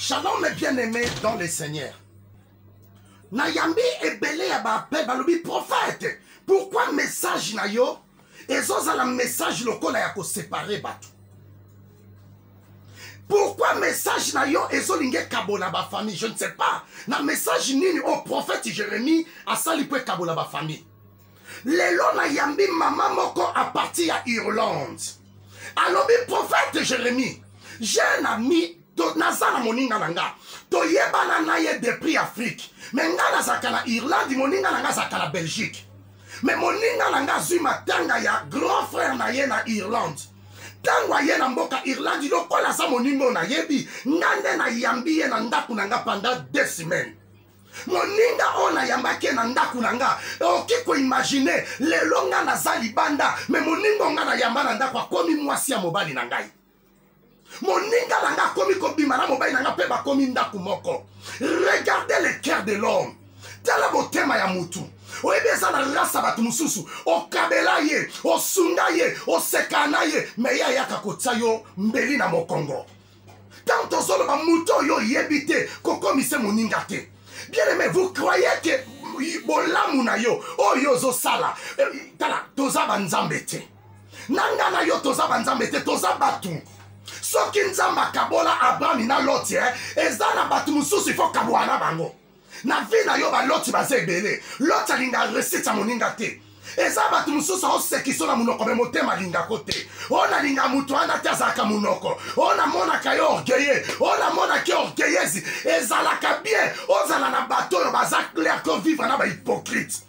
Shalom mes bien-aimés dans le Seigneur. Nayambi ebele ya ba appel balobi prophète pourquoi message na yo ezozala message lokola ya koséparer bato pourquoi message na yo ezolinga ekabola bafamille je ne sais pas na message nini oyo prophète jérémie asali mpo ekabola bafamille lelo nayambi mama moko a partir ya irlande alobi prophète jérémie jeune ami naza na moninga na nga toyebana na ye depuis afrique me nga nazalaka na irlande moninga na nga azalaka na belgique me moninga na nga azwi matanga ya grand frère na ye na irlande ntango aye na mboka irlande lokola aza moninga oyo nayebi nga nde nayambi ye na ndako na nga pendant deux semaines moninga oyo nayambaki ye na ndako na nga oki koimagine lelo nga naza libanda me moninga nga nayamba na ndako akomi mwasi ya mobali na ngai moninga na nga akomi kobima na mobali na nga mpe bakomi ndako moko regarde le cœur de l'homme tala motema ya motu oyebi eza na rasa bato mosusu okabela ye osunga ye oseka na ye me ye ayaka kotya yo mbeli na mokongo ntango tozoloba moto oyo oyebi te kokomise moninga te bien aimé vous croyez que bolamu na yo oyo ozosala eh, tala toza banzambe te na nga na yo toza banzambe te toza bato soki nzambe akabola abrami na loti eh, eza na bato mosusu ifo kabwana bango na vie na yo baloti baza ebele loti alinga resite ya moninga te eza bato mosusu aosekiso na monoko me motema alingako te oyo nalinga moto wana te azalaka monoko oyo namonaka ye orgueille oyo namonaki orgueillesi ezalaka bien ozala na bato oyo baza clair ko vivre na bahypocrite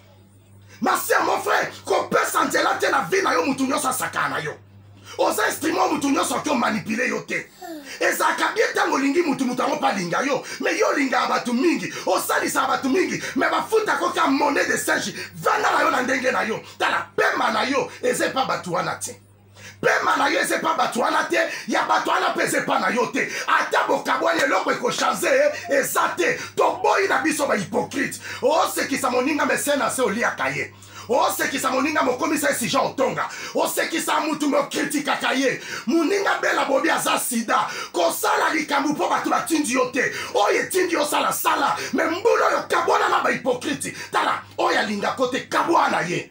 ma sœur mon frère kopesa nzela te na vie na yo motu nyonso asakana na yo oza instrument motu nyonso ake omanipule yo te ezalaka bie ntango olingi motu motu yango mpe alinga yo me yo olingaka bato mingi osalisaka bato mingi me bafutaka oka monnaie de singe vanda na yo na ndenge na yo tala pema na yo eza epa bato wana te pema na yo eza epa bato wana te ya bato wana mpe eza epa na yo te ata bokabwani eloko ekochange eza te toboyi na biso bahypokrite osekisa moninga mese na se oliaka ye osekisa moninga mokomisa ye sija otonga osekisa motu mokritikaka ye moninga bela bobi aza sida kosala likambo mpo bato batindi yo te oyo etindi yo sala sala me mbula oyo kabwana na bahipokriti tala oyo alingako te kabwana ye